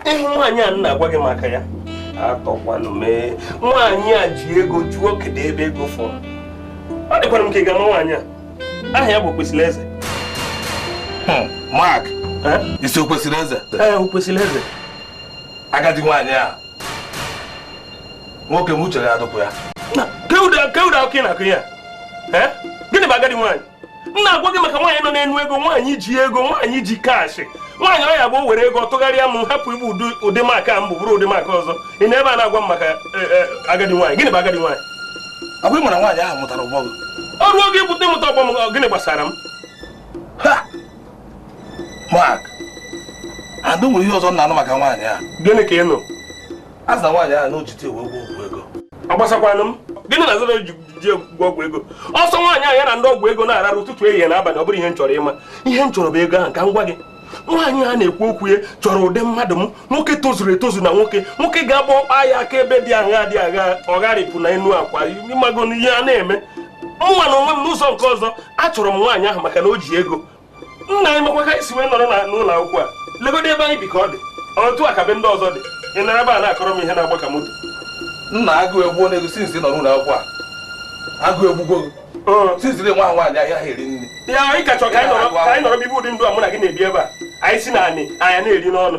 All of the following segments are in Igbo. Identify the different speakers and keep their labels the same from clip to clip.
Speaker 1: ihe nwaanyị a na-agwa gị maka ya atọkwanụ m ee nwaanyị a ji ego jụọ kedu ebe ego fọrọ ọ dịkwara m ka ị ga-ama nwaanyị a aha ya bụ Okwesịrịeze hmm, Mark ị sị Okwesịrịeze ee Okwesịrịeze agadi nwaanyị a nwoke m uche gị adịkwa ya kee ụdị akọ ị na-akọ ya gịnị bụ agadi nwaanyị m na-agwa gị maka nwaanyị nọ n'enu ego nwaanyị ji ego nwaanyị ji cash nwaanyị ọ ya ga-ewere ego tụgharịa m hapụ ịbụ ụdị Mark mbụ bụrụ ụdị Mark ọzọ ị nọ ebe a na-agwa m maka e, e, agadi nwaanyị gịnị bụ agadi nwaanyị agwa ị ma na nwaanyị ahụ mụtara ọgbọ gị o ruo oge ịpụta ịmụta ọgbọ m gịnị gbasara m Mark, and o nwere ihe ọzọ m na-anụ maka nwaanyị a. Gịnị ka ị nụ? A sị na nwaanyị a na o ji di ya wee gwọ ọgwụ ego. Ọ gbasakwanụ m. Gịnị na a sị na o ji di gwọ ọgwụ ego? Ọ sọ nwaanyị a ya na ndị ọgwụ ego na-ararụ ụtụtụ ehihie na abalị ọ bụrọ ihe m chọrọ ịma. Ihe m chọrọ bụ ego ahụ ka m gwa gị. nwaanyị a na-ekwu okwu ya chọrọ ụdị mmadụ m nwoke tozuru etozu na nwoke nwoke ga-agba ọkpa ya aka ebe dị agha dị agha ọ gharịpụ na enu akwa ị mago ihe a na-eme mụnwa na onwe m n'ụzọ nke ọzọ achọrọ m nwaanyị ahụ maka na o ji ego nna anyị makwa ka anyị si wee nọrọ n'ụlọ akwụkwọ a legodo ebe anyị bi ka ọ dị otu a ka be ndị ọzọ dị ị nọrọ ebe a na-akọrọ m ihe na-agba ka moto nna agụụ egbu na-ego since ị nọ n'ụlọ akwụkwọ a agụụ egbugbuo siziri nwa nwaanyị ahịa ha eri nri ya na ị ka chọrọ ka anyị nọrọ bibe ụdị ndụ a mụ na gị na-ebi ebe a anyị si na anị anya na-eri n'ọnụ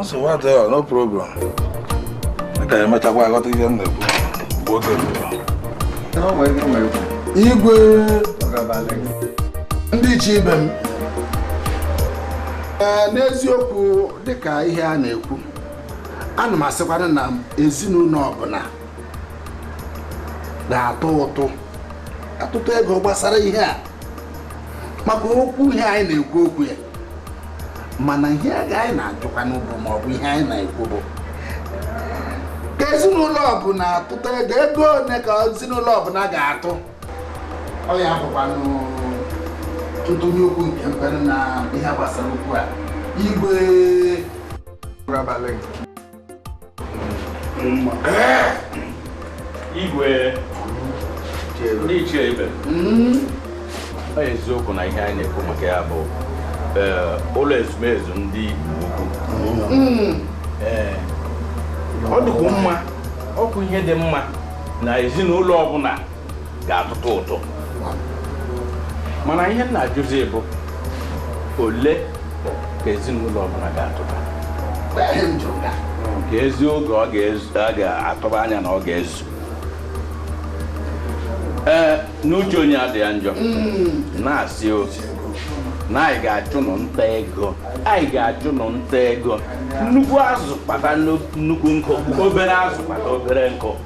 Speaker 1: nsogbu adịghị no problem ị ga-emechakwa ghọta ihe m na-ekwu mgbe oge igwe ndị ichie ibe m n'eziokwu dịka ihe a na-ekwu ana m asịkwanụ na ezinụlọ ọbụna ga-atụ ụtụ atụ ụtụ ego gbasara ihe a maka okwu ihe anyị na-ekwu okwu ya mana ihe anyị na-ajụkwanụ bụ ma ọ bụ ihe anyị na-ekwu bụ ka ezinụlọ ọbụna tụta ego ego ole ka ezinụlọ ọbụna ga-atụ ọ ya bụkwanụ ntụnye okwu nke m nwere na ihe gbasara okwu a igwe igwe ndị ichie ibe m ọ eziokwu na ihe anyị na-ekwu maka ya bụ eh, ụlọ ezumezu ndị Igbo Ukwu hmm. eh, ọ dịkwu mma ọ bụ ihe dị mma na ezinụlọ ọbụna ga-atụtụ ụtụ mana ihe m na-ajụzi bụ ole ka ezinụlọ ọbụla ga-atụba ka ezi oge ọ ga-atụba anya na ọ ga-ezu ee n'uche onye adị ya njọ hmm. na-asị ozi na anyị ga-achụ nụ nta ego anyị ga-achụ nụ nta ego nnukwu azụ kpata nnukwu nkụ obere azụ kpata obere nkụ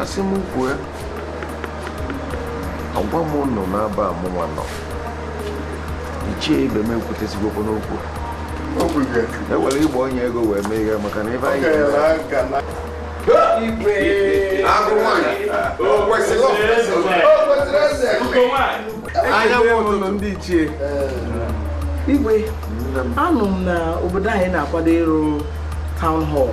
Speaker 1: asị m kwue agwa m ụnụ n'aba amụma nọ ichie ibe m ekwutezigokwa n'okwu e were ịgba onye ego wee mee ihe maka na ebe anyị anya nwụrụ ndị ichie igwe anụ m na obodo anyị na-akwado ịrụ town hall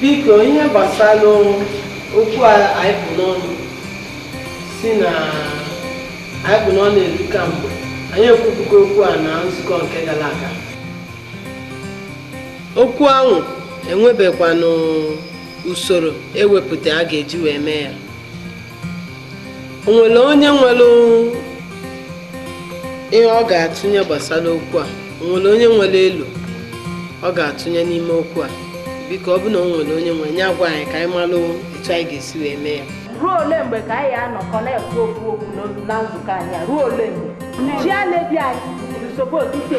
Speaker 1: biko ihe gbasara okwu anyị kpụ n'ọnụ si na anyị kpụ n'ọnụ eri kamgbe anyị ekwubugo okwu a na nzukọ nke gara aga okwu ahụ e nwebekwanụ usoro e wepụta a ga-eji wee mee ya o nwere onye nwere ihe ọ ga-atụnye gbasara okwu a o nwere onye nwere elo ọ ga-atụnye n'ime okwu a biko ọ bụ na o nwere onye nwere nya gwa anyị ka anyị malụ etu anyị ga-esi wee mee ya ruo ole mgbe ka anyị anọkọ na-ekwu okwu okwu na nzukọ anyị ruo ole mgbe chairlady anyị nsogbu otite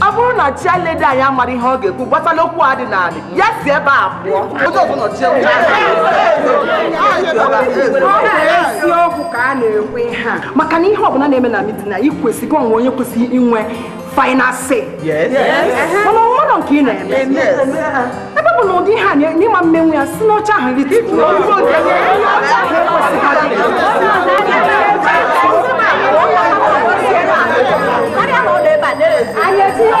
Speaker 1: ọ bụrụ na chairlady anyị amarọ ihe ọ ga-ekwu gbasara okwu a dị n'ala ya si ebe a pụọ onye ọbụla chie eziokwu ka a na-ekwu ihe a maka na ihe ọbụla na-eme na meeting a ị kwesịrị o nwe onye kwesịrị inwe final say mana o nwerọ nke ị na-eme ebe bụ na ụdị ha na ị ma-emenwu ya si n'oche ahụ rituo anyị etinye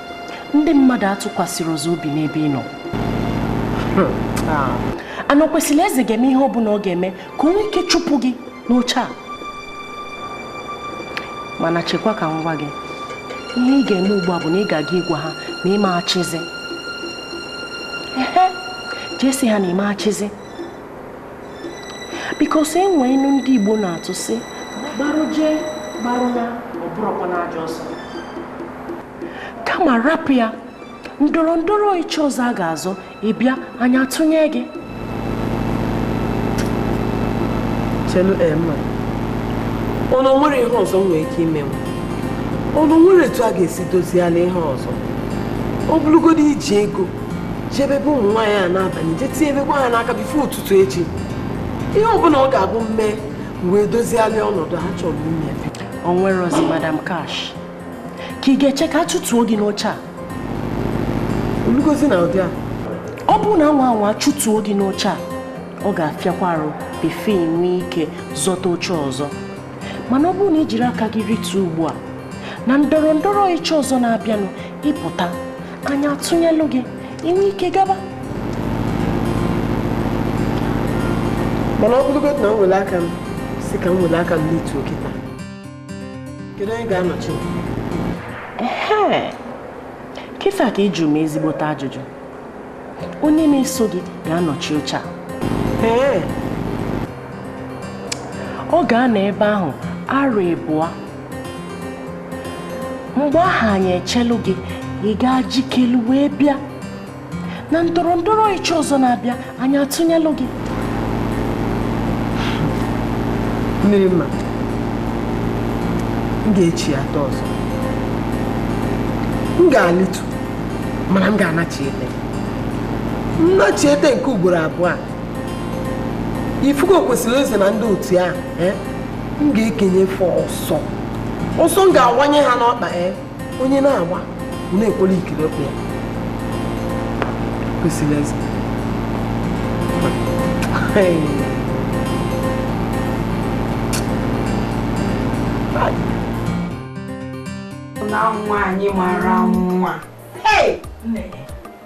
Speaker 1: ndị mmadụ atụkwasịrị ọzọ obi n'ebe ị nọ hmm. ah. ana kwesịrị eze ga-eme ihe ọbụla ọ ga-eme ka o nwee ike chụpụ gị n'oche a mana chekwa ka m gwa gị ihe ị ga-eme ugbu a bụ na ị ga-aga ịgwa ha na ị ma-achịzi jee sị ha na ị ma-achịzi because e nwee inu ndị Igbo na-atụ sị gbarụ jee gbarụ na ọ bụrọkwa n'ajọ ọsọ kama rapụ ya ndọrọ ndọrọ ịchị ọzọ a ga-azọ ịbịa anyị atụnye gị chelu ema ọnụ nwere ihe ọzọ nwere ike ime m ọnụ nwere etu a ga-esi doziela ihe ọzọ ọ bụrụgodo iji ego jebe be ụmụ nwaanyị a n'abanị jee tinyebekwa ha n'aka before ụtụtụ echi ihe ọbụla ọ ga-abụ m mee wee dozialị ọnọdụ a achọrọ m ime o nwerozi madam Cash ka ị ga-eche ka a chụtuo gị n'oche a olugozi na ụdị a ọ bụrụ na a nwaa anwa chụtuo gị n'oche a ọ ga-afịakwa arụ before i nwee ike zọta oche ọzọ mana ọ bụrụ na i jiri aka gị rituo ugbu a na ndọrọ ndọrọ ịchị ọzọ na-abịanụ ị pụta anyị atụnyelụ gị i nwee ike gaba mana ọ bụrụgodị na m were aka m si ka m were aka m lituo oche taa kedu onye ga-anọchi m? Ehe. kịta ka ị jụrụ m ezigbote ajụjụ onye na-eso gị ga-anọchi oche a ee ọ ga-anọ ebe ahụ arọ ịbụa mgbe ahụ anyị echelu gị ị gaa jikelu wee bịa na ndọrọ ndọrọ ịchị ọzọ na-abịa anyị atụnyelụ gị mmiri mma m ga-echi atọ ọzọ m ga-alitu mana m ga-anachi ete nnachi ete nke ugboro abụọ a ị fụgo Okwesịrịeze na ndị otu ahụ eh? m ga-ekenye fa ọsọ ọsọ m ga-awanye ha n'ọkpa ya eh? onye na-agba na-ekwere ikiri ọkpa ya Okwesịrịeze na nwaanyị mara nwa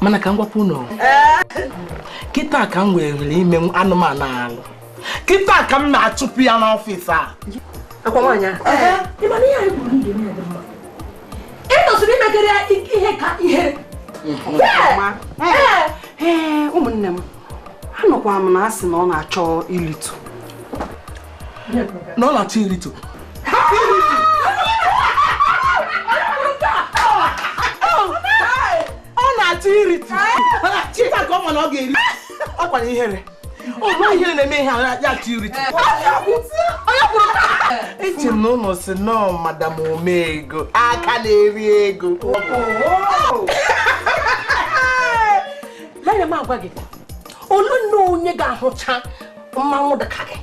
Speaker 1: mana ka m gwakwa unu kịta ka m were ime anụmanụ alụ kịta ka m na-achụpụ ya n'ọfịs a akwa nwaanyị ị tọsịrị imegara ya ihe ka ihe ụmụnne m anụkwa m na a sị na ọ na-achọ ilitu na ọ na-achọ irito ọ na-achọ irito chita ka ọ ma na ọ ga-eri ọkwa ihere ọ bụ ihere na-eme ihe a ya achọ irito eche m na unu sị na ọ madam omeego aka na-eri ego Lere m agwa gị, olee onye ga-ahụcha mmanwụ dị ka gị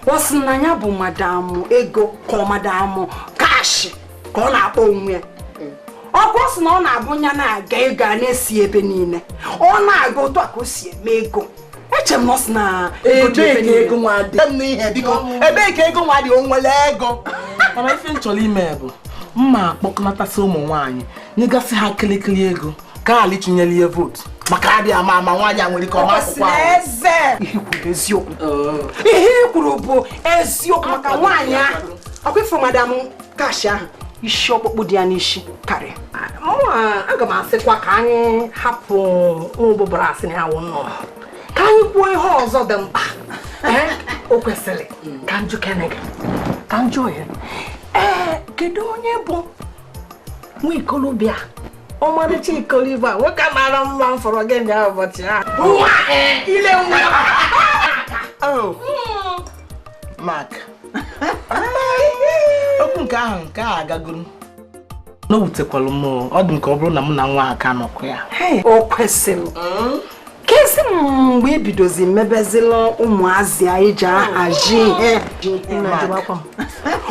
Speaker 1: ọ sị na ya bụ madam ego ka ọ madam cash ka ọ na-akpọ onwe ya ọkwa sị na ọ na-abụ ya na-aga ego a na-esi ebe niile ọ na-aga otu a ka o si eme ego eche m na ọ sị na ego dị ebe niile ebee ka ego nwa dị o nwere ego mana ife m chọrọ ime bụ mma akpọkọnatasị ụmụ nwaanyị nyegasị ha kịlịkịlị ego ka ali chinyere ya vootu maka adị ama ama nwaanyị a nwere ike ọ ma akwụkwọ ihe i kwuru eziokwu oh. ihe i kwuru bụ eziokwu maka nwaanyị ahụ ọkwa ị fụrụ madam cash ahụ isi ọkpụkpụ dị ya n'isi karịa aga m asịkwa ka anyị hapụ ụbụbara sị na ya wụ nnụnụ ka anyị kwuo ihe ọzọ dị mkpa o kwesịrị ka njụkene gị ka njụ ohere ee kedu onye bụ nwa ikolobịa ọmarịcha ikolobịa nwoke mara mma m fụrụ gị na ya ụbọchị ahụ ile nwa oh. maka okwu nke ahụ nke a agagoro na o wutekwalụ m ọ dị m ka ọ bụrụ na mụ na nwa a ka nọkwa ya o kwesịrị hmm? kezi mgbe i bidozi mebezila ụmụazị anyị ji ahazi ihe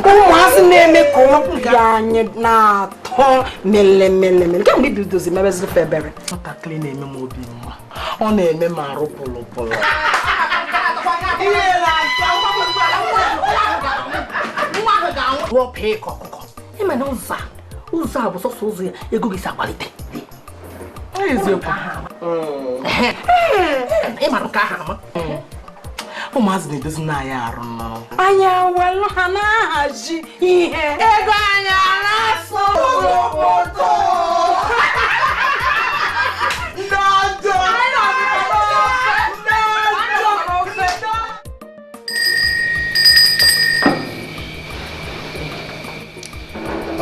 Speaker 1: ụmụazị na-eme ka obi anyị na-atọ melemelemele kemgbe i bidozi mebezila febere nwatakịrị na-eme m obi mma ọ na-eme m arụ pụlụpụlụ wọpụ ịkọ ọkụkọ ị ma na ụzọ a ụzọ a bụ sọsọ ụzọ ya ego gị si akwalite ị mara nke aha ama ụmụazị na-edozi na anyị arụ mmanwụ anyị ewelụ ha na-ahazi ihe ego anyị na-asụ obodo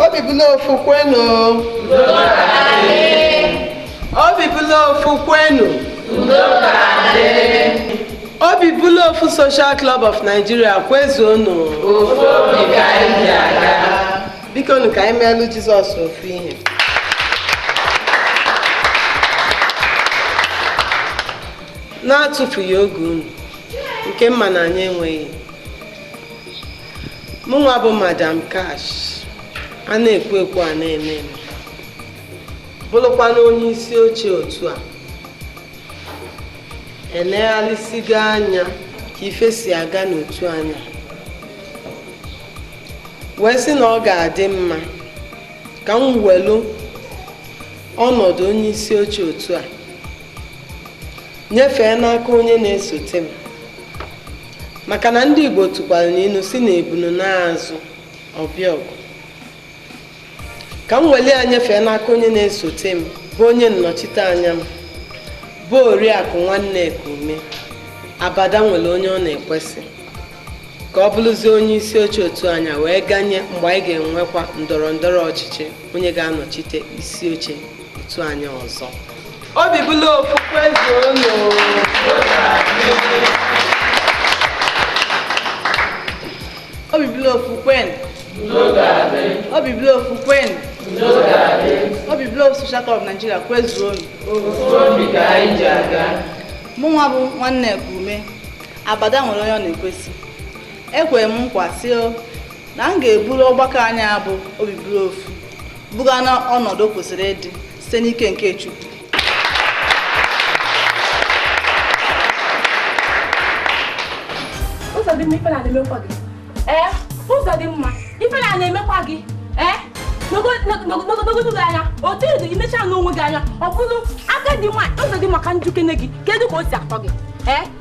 Speaker 1: obi bụ n'ofu kwenu obi bụ n'ofu kwenu obi bụ n'ofu social club of nigeria kwezuonu biko nu ka anyị meelụ jizọs ofu ihe na-atụfughị oge unu nke m ma na anyị enweghị mụnwa bụ madam Cash a na-ekwu ekwu a na-eme eme bụlụkwanụ onye isi oche otu a eneghalịsịgo anya ka ife si aga n'otu anyị a wee sị na ọ ga-adị mma ka m welu ọnọdụ onye isi oche otu a nyefee n'aka onye na-esote m maka na ndị Igbo tụkwara n'inu sị na ebunu naa azụ ọ bịa ọgụ ka m weli ya nyefee n'aka onye na-esote m bụ onye nnọchite anya m bụ oriakụ Nwanneka Ume abada nwelụ onye ọ na-ekwesị ka ọ bụlụzie onye isi oche otu anyị a wee ganye mgbe anyị ga-enwekwa ndọrọ ndọrọ ọchịchị onye ga-anọchite isi oche otu anyị ọzọ obi bụlụ ofu kwezuonu obi bụlụ ofu kwe obi bụlụ ofu kwe obi bụlụ ofu social club Nigeria kwezuonu mụ nwa bụ Nwanneka Ume abada nwere onye ọ na-ekwesị ekwere m nkwa sị na m ga-eburu ọgbakọ anyị a bụ obi bụrụ ofu buga na ọnọdụ o kwesịrị ịdị site n'ike nke Chineke Ụzọdịmma ife na-emekwa gị ee Ụzọdịmma ife na-emekwa gị ee n'ogologo gị anya otu ị dị imecha n'onwe gị anya ọ bụrụ aka dị mma Ụzọdịmma ka m jụkene gị kedu ka o si atọ gị ee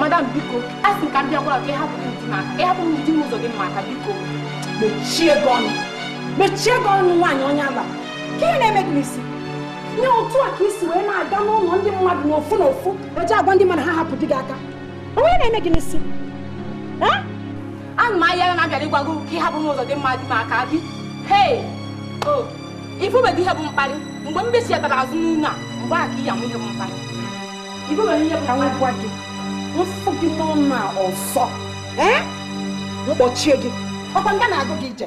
Speaker 1: madam biko a sị ka m bịa gwa gị ka ị hapụ m di m aka ị hapụ m di m Ụzọdịmma aka biko mechie gị ọnụ mechie gị ọnụ nwaanyị onye ala ka ihe na-eme gị n'isi nee otu a ka i si wee na-aga n'ụlọ ndị mmadụ n'ofu n'ofu eje agwa ndị mmadụ ha hapụ di gị aka o nwere ihe na-eme gị n'isi Ana m ahịa na m bịara ịgwa gị ka ị hapụ m Ụzọdịmma di m aka gị. Hei! O, ịfụbeghị ihe bụ mkparị. Mgbe m besi ebere azụ n'ụlọ a, mgbe a ka ị ya-ama ihe bụ mkparị. Ịfụbeghị ihe bụ mkparị. Ka m gwa gị, m fụ gị n'ụnọ a ọzọ. Ee? M kpọchie gị. Ọ kwa nga na-agụ gị ije.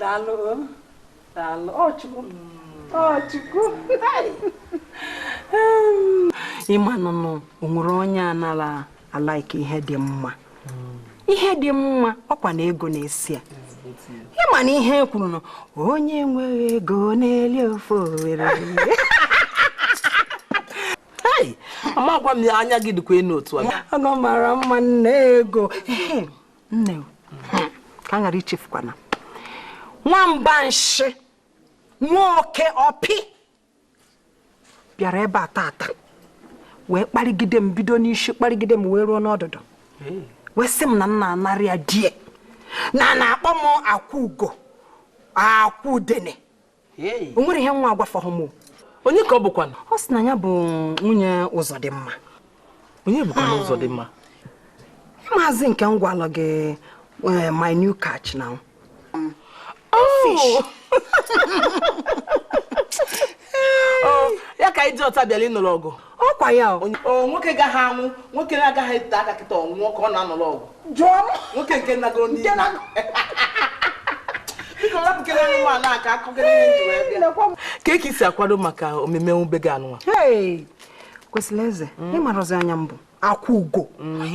Speaker 1: daalụ daalụ ọ chukwu ọ chukwu ị manụ na o nwere onye anara a-like ihe dị mma ihe dị mma ọ kwa na ego na-esi ya ị ma na ihe e kwuru na onye nwere ego na-eli ofe Owere amakwa m ya anya gị dịkwa enu otu a ọ mara mma nne ego nne ka a ghara ichefukwa na nwamba nshị nwa oke ọpị bịara ebe a tata wee kparịgide m bido n'isi kparịgide m wee ruo n'ọdụdụ wee sị m na m na-anara ya di ya na na-akpọ m akwụ ugo akwụ udene o nwere ihe nwa a gwafọghị m onye ka ọ bụkwanụ ọ sị na ya bụ nwunye ụzọdịmma onye bụkwa hmm. ụzọdịmma maazị nke m gwalụ gị eh, my new catch na hmm. oh! oh, ya ka i ji ọta bịala ịnụrụ ọgụ ọ kwa ya o nwoke gaghị anwụ nwoke na-agaghị ete aka kịta ọ nwụọ ka ọ na-anọrọ ọgwụ jụọ m nwoke nke nagoro n'ihe ka eke isi akwado maka emume nwube gị anụnwa kwesịrị eze ị marọzi onye m bụ akwụ ugo mm.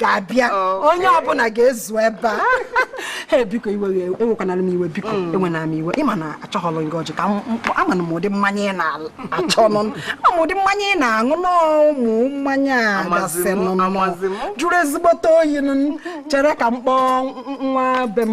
Speaker 1: ga-abịa onye ọbụla ga-ezu ebe a ee biko iwe ewekwanara m iwe biko mm. ewena m iwe ị ma na achọghọlụ m gị ọjị kama amanụ m ụdị mmanya ị na-achọ ịṅụ ama m ụdị mmanya ị na-aṅụ n'ụmụ mmanya a gasị nụ jụrụ ezigbote oyi chere ka m kpọọ nwa be m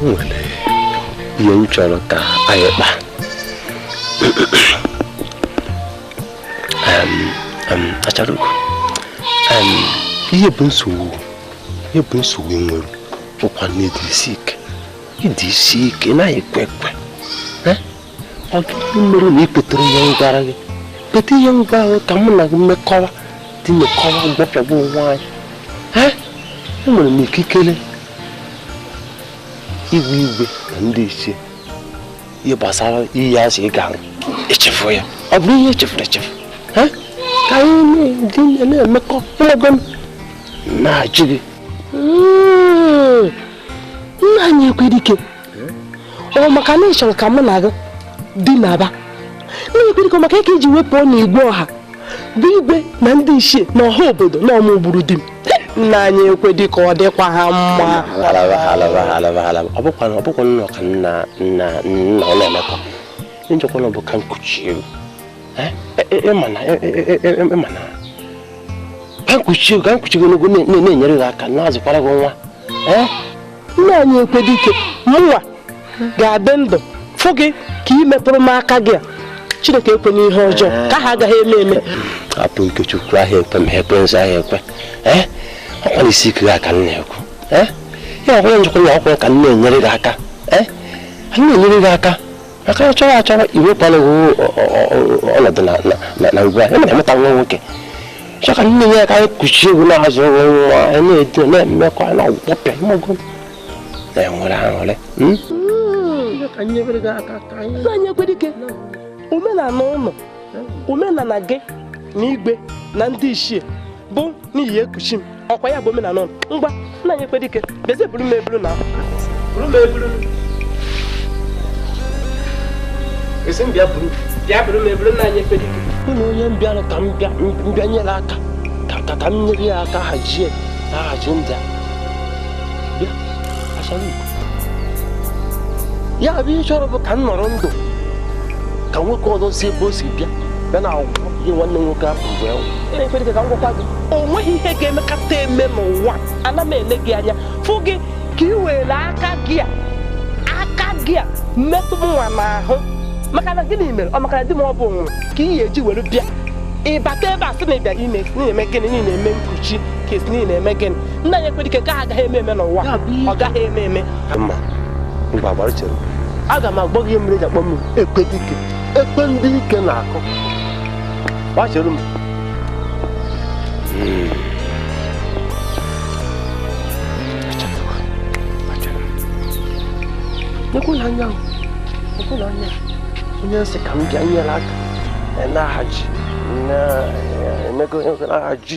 Speaker 1: nwere ihe m chọrọ ka anyị kpaa achara ugo ihe bụ nsogbu ihe bụ nsogbu i nwere ọ kwa na ị dị isi ike ị dị isi ike ị naghị ekwe ekwe ọ gịnị mere na i kweterọ ihe m gwara gị kweta ihe m gwara gị ka mụ na gị mekọwa dị mekọwa gwọpịagwa onwe anyị enwere m ikikere ịgwa igwe na ndị ichie ihe gbasara iyi ahụ ị ga-aṅụ echefuo ya ọ bụrụ ihe echefuru echefu ka anyị dị na-emekọ ị mago na-ajụ gị nna anyị ekwedike ọ maka na ị chọrọ ka mụ na gị dinaba nna anyị ekwedike maka ị ka-eji wepụ ọ na igwe ọha bụ igwe na ndị ichie na ọha obodo na ọ mụa gburu di m nna anyị ekwedike ọ dịkwaha mma ọ bụkwa na ọka nna nna nna ọ na-emekọ njọkwa na ọ bụ ka m kuchie gị ka m kuchie ka m kuchie ogologo na-enyere gị aka na-azụkwara gị nwa nna anyị ekwedike mụnwa ga-adị ndụ fụ gị ka ị metụrụ m aka gị a chineke ekwena ihe ọjọọ nke ahụ agaghị eme eme apụ ikechukwu ahịa ekwe ma ekwe nzọ ahịa ekwe ọkwa isi ike gị a ka m na-ekwu ya ọkwara njikwa ya ọkwa ka m na-enyere gị aka na-enyere gị aka maka ya chọrọ achọrọ iwekwala ọnọdụ na ngwa ya mere mụta nwa nwoke chọka nne ya ka anyị kuchie egwu na-azụ nwa na-edo na-emekwa na ọgwụkpọpịa mmago na-enwere aṅụrị anyekwerike omenala ụlọ omenala gị na igwe na ndị ichie bụ na ị ya-ekuchi m ọkwa ya bụ omenala ngwa nna anyị ekwedike beze buru m eburu na buru m eburu esi m bịa buru bịa buru m eburu nna anyị ekwedike ụlọ onye m bịara ka m bịa nyere aka ka ka m nyere ya aka hazie ahazi ndị a bịa asara ya bụ ihe ị chọrọ bụ ka m nọrọ ndụ ka nwoke ọzọ si ebe o si bịa bịa na agwụgwọ ihe nwanne nwoke ahụ bụ ya na-ekwere gị ka m gwakwa gị o nweghị ihe ga-emekata eme mụnwa ana m ele gị anya fụ gị ka ị were aka gị a aka gị a metụ mụnwa n'ahụ maka na gịnị mere ọ maka na di m ọ bụ nwa ka ị ga-eji were bịa ịbata ebe a sị na ị bịara ime na ị na-eme gịnị na ị na-eme nkuchi ka a sị na ị na-eme gịnị nna anyị ekwedike nke ahụ agaghị eme eme n'ụwa ọ gaghị eme eme mba ngwa gbara chere aga m agwa gị ihe mere e ji akpọ m ekwedike ekwe ndị ike na-akụ ngwa chere m nekwanụ anya nekwanụ anya onye m sị ka m bịa nyere aka na-ahaji na-emego n'ahaji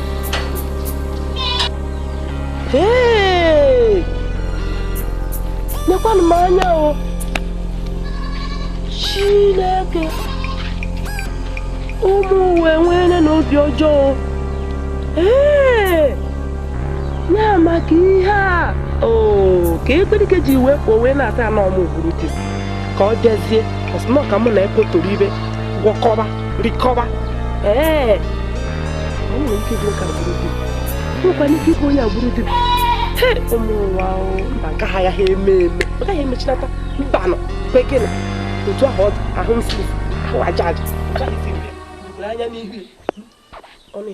Speaker 1: nekwanụ m anya o Chineke ụmụ ụwa enweela na obi ọjọọ ee ya maka ihe a oo ka ekwedike ji wee pụọ wee na-ata anọ ọmụ ka ọ bịazie ọ sị nọọ ka mụ na ekotoro ibe gwọkọba rikọba ee o nwere ike ịbụ ka e gburu di nwekwana ike ịbụ onye gburu di ụmụ ụwa mba nke ahụ agaghị eme eme ọ gaghị emechinata mbanụ kwekere otu ahụ ọ dị ahụ nsị ahụ aja aja anya n'ihu ọ na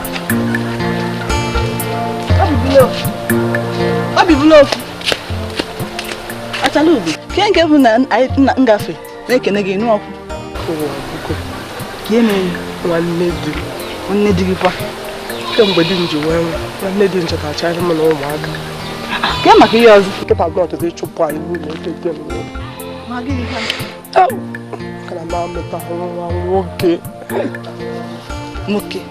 Speaker 1: obi bụla ofu Achalugo ke nke bụ na nna ngafe na-ekene gị nụ ọkụ nwanne di nwanne di gị kwa kemgbe di m ji wee nwụọ nwanne di m chọtachara m na ụmụaka ke maka ihe ọzọ kịta gị ọtụtụ ịchụpụ anyị n'ụlọ nwoke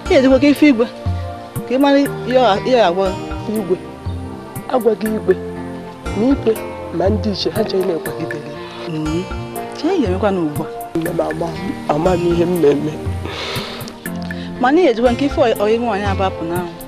Speaker 1: ya edịkwa ka ife igwe ka ị mara ihe agwa igwe agwaghị igwe na igwe ma ndị ichie ha chọghị na-akwagidere mm-hmm. chi ya emekwa na ugbu a amaghị ihe m na-eme mana ihe ejikwa nke ife ọyị nwaanyị abapụ n'ahụ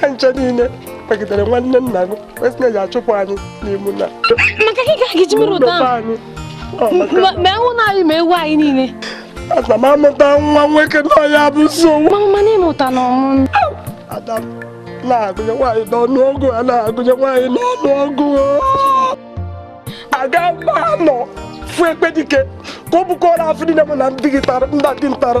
Speaker 1: ha ncha niile kwagidere nwanne nna gị wee sị na ya achụpụ anyị n'imu na maka gị ka a ga-eji mere ụtọ ụlọ ahụ anyị Ọ maka Ma- ma ewu na anyị ma ewu anyị niile ana m amụta nwa nwoke na ọ ya bụ nsogbu mama mana ị mụtara ọmụmụ ada m na-agụnye nwaanyị n'ọnụ ọgụ a na-agụnye nwaanyị n'ọnụ ọgụ aga m anọ fụ Ekpedike ka ọ bukọrọ afụfụ niile mụ na ndị gị tara ndị dị ntara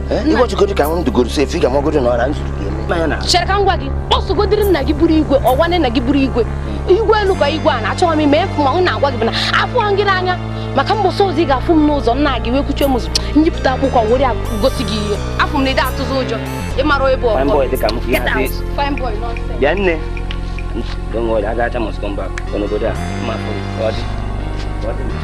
Speaker 1: ịgwọchigodi ka m dugoro sefu ị ga-amagodi na ọra nzuru ga-eme chere ka m gwa gị kpọsụgodiri nna gị bụrụ igwe ọgwane nna gị bụrụ igwe igwe elu ka igwe a na-achọghị m ime efu ma m na-agwa gị bụ na afụ gị n'anya maka mbọsị ọzọ ị ga-afụ m n'ụzọ nna gị wee kwuchie m ụzọ nyipụta akwụkwọ were gosi gị ihe afọ m na ide atụzi ụjọ ị mara ebe ọgọ bịa nne Don't worry, I got must come back. Gonna go there. My phone. What? What?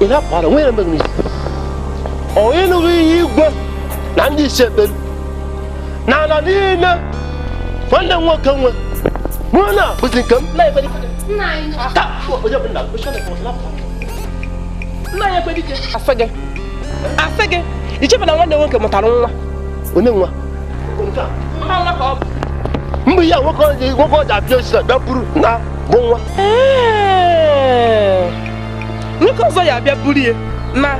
Speaker 1: ị na-akwara onwe ya mbeghị n'isi ọ ịnụghị ihe igwe na ndị ichie kpere na ala niile nwanne m nwoke nwebu na ọ bụzi nke m nna anyị Ekpedike asị gị asị gị i chebu na nwanne nwoke mụtara nwa onye nwa mgbe ihe a nwoke ọja nwoke ọja abịa osisi abịa buru na ọ bụ nwa Ee. nwoke ọzọ ya abịa buru ya na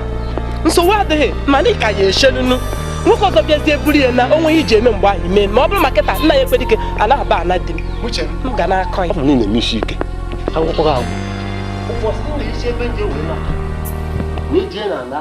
Speaker 1: nsogbu adịghị mana ịka ya echenunu nwoke ọzọ bịazie buru ya na o nweghị iji eme mgbe ahụ mee ma ọ bụrụ ma kịta nna anyị Ekpedike anaghị aba ana di m uche m m ga na-akọ ya ọ bụ na ị na-eme isi ike akwụkwọ gị agwụ ụbọchị m na-esi ebe nje wee na wee jee na ala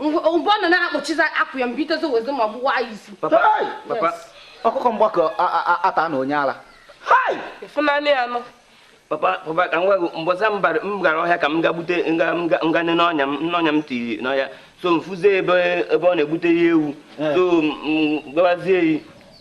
Speaker 1: mgbe ọ nọ na-akpọchiza akwa ya mbitezo wezi ma gbuwazie ọkụkọ m gbakọta na onye ara ịfụnanị ya nọ papa papa ka m gwa gị mbọsị m gara ọhịa ka m ga gbute m ga nene n'ọnya m n'ọnya m tiri n'ọhịa so m fụzie ebe ọ na-egbute ya ewu so m gbawazie ya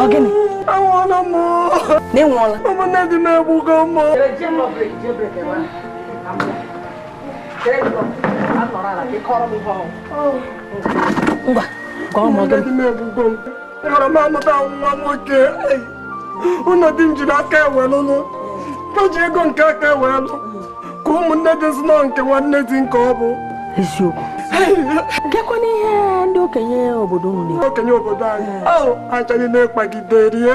Speaker 1: ọ gịnị anwụọla m na ịnwụọla ụmụnne di m egbugo m ngwa gwa m ọ gịnị Nwere m amụta nwa nwoke ụlọ di m ji n'aka ewelụlụ ka ji ego nke aka ewelụ ka ụmụnne di m si nọ nke nwanne di nke ọ bụ eziokwu gekwa n'ihe ndị okenye obodo unu okenye obodo anyị achọghị na-ekpagide rie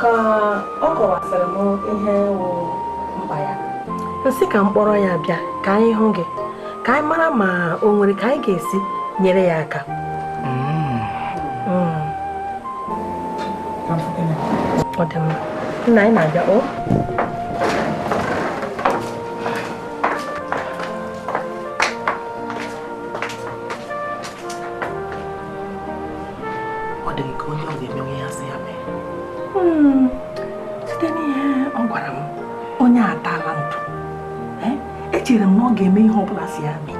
Speaker 1: ka ọ kọwasịrị m ihe wụ mkpa ya m sị ka m kpọrọ ya bịa ka anyị hụ gị ka anyị mara ma o nwere ka anyị ga-esi nyere ya aka mm. Mm. ọ dị mma nna anyị na-abịa o ọ dị gị ka onye ọ ga-emenwu ihe a sị ya mee hmm, site n'ihe ọ gwara m onye a atala ntụ eh, echere m na ọ ga-eme ihe ọ bụla a sị ya mee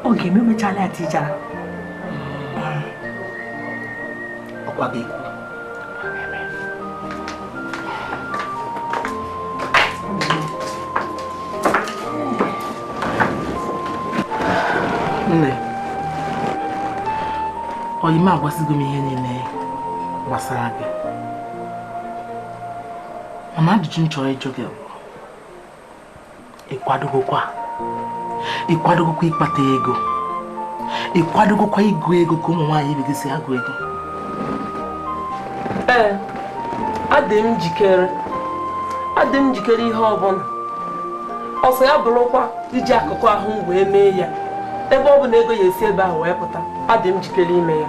Speaker 1: ọ ga-eme mechala ya tijara ọkwa gị nne ọyị m agwasịgo m ihe niile gbasara gị mana ajụjụ m chọrọ ịjụ gị bụ ị kwadogokwa ị kwadogokwa ịkpata ego ị kwadogokwa ịgụ ego ka ụmụ nwaanyị ibe gị si agụ ego ee adị m njikere adị m njikere ihe ọbụla ọ sị ya bụrụkwa iji akụkụ ahụ m wee mee ya ebe ọ bụ na ego ya-esi ebe ahụ wee pụta adị m njikere ime ya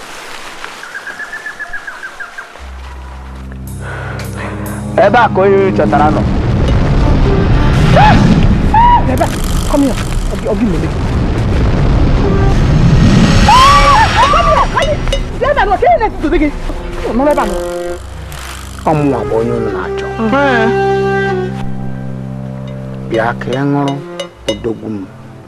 Speaker 1: ebe a ka onye ị chọtara nọ Come here. I'll, I'll give you a lick. ọ mụnwa bụ onye unu na-achọ bịa ka ị hụrụ odogwu m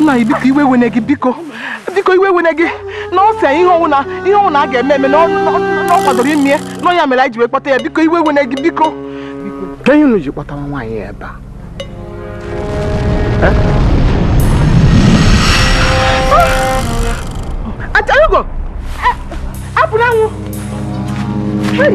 Speaker 1: nna anyị biko iwe ewene gị biko biko iwe ewene gị na ọ sị ihe ọ wụna ihe ọ wụna a ga-eme eme na ọ kwadoro ime ya na ọ ya mere anyị ji wee kpọta ya biko iwe ewene gị biko kee ihe unu ji kpọta nwaanyị ebe a Achalugo! Apụnanwụ! Hey!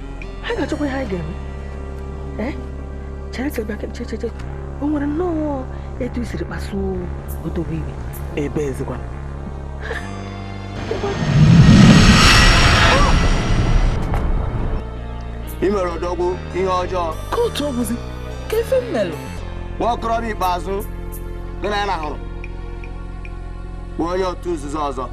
Speaker 1: anyị ga-achọkwa ihe anyị ga-eme eh? chere chere chere chere o nwere nnọọ etu i siri kpasuo odogwu iwe ebe ezigbo i mere odogwu ihe ọjọọ kedụzikwa ife m melụ nwa okorobịa ikpeazụ gị na ya na-ahụrụ bụ onye otu nzuzo ọzọ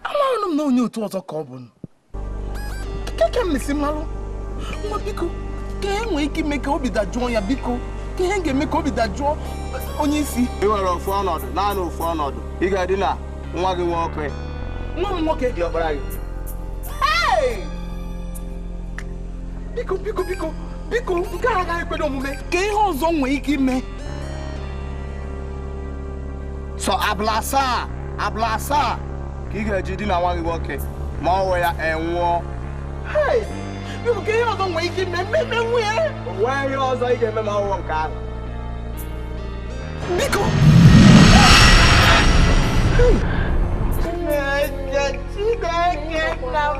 Speaker 1: amaghịnụ m na onye otu ọzọ ka ọ bụ kee ka m na-esi malụ nna biko kee ihe e nwee ike ime ka obi dajụọ ya biko kee ihe a ga-eme ka obi dajụọ onye isi ị nwere ofu ọnọdụ naanị ofu ọnọdụ ị ga-edina nwa gị nwoke nwa m nwoke diọkpara gị biko biko biko biko nke a agaghị ekwe omume kee ihe ọzọ nwee ike ime sọ abalị asaa abalị asaa ka ị ga-eji dina nwa gị nwoke ma ọ wụ ya anwụọ kee ihe ọzọ nwere ike ime eme o nweghị ihe ọzọ ị ga-eme ma ọ wụghị nke ahụ biko Chineke nna m